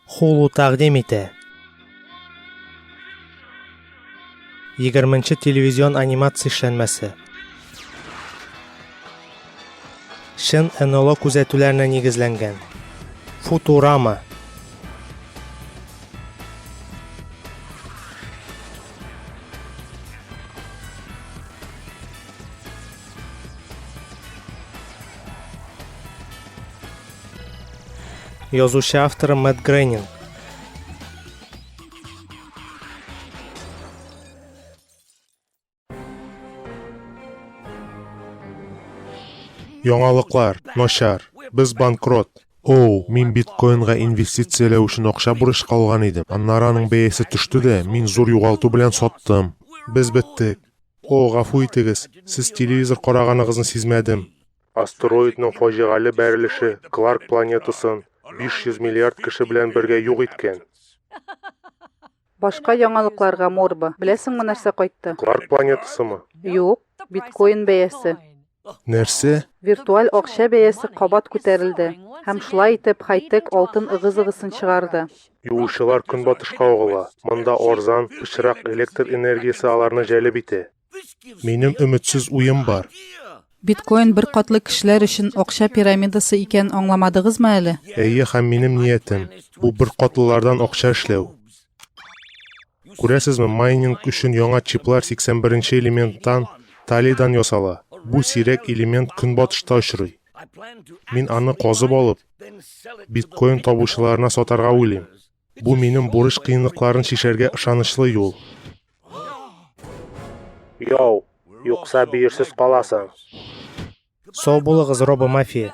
Хулу тәкъдим итә. Егерменче телевизион анимация эшләнмәсе. Чын НЛО күзәтүләренә нигезләнгән. Футурама. Язучы авторы Мэтт Грейнин. Яңалыклар, начар, без банкрот. Оу, мин биткоинга инвестицияләү өчен акча бурычка алган идем. Аннары аның бәясе төште дә, мин зур югалту белән саттым. Без беттек. О, гафу итегез, сез телевизор караганыгызны сизмәдем. Астероидның фаҗигале бәрелеше Кларк планетасын 500 миллиард кеше белән бергә юк иткән. Башка яңалыкларга морба. Беләсеңме нәрсә кайтты? Кларк планетасымы? Юк, биткоин бәясе. Нәрсә? Виртуаль акча бәясе кабат күтәрелде. Һәм шулай итеп хайтек алтын ыгы-зыгысын чыгарды. Юучылар көнбатышка агыла. Монда арзан, пычрак электр энергиясе аларны җәлеп итә. Минем өметсез уем бар. Биткоин бер катлы кешеләр өчен акча пирамидасы икән аңламадыгызмы әле? Әйе, һәм минем ниятем бу бер катлылардан акча эшләү. Күрәсезме, майнинг өчен яңа чиплар 81-нче элементтан, талидан ясала. Бу сирәк элемент көнбатышта очрый. Мин аны казып алып, биткоин табучыларына сатарга уйлыйм. Бу минем бурыч кыенлыкларын чишәргә ышанычлы юл. Яу, юкса бөерсез каласың. Сау булыгыз, робомафия.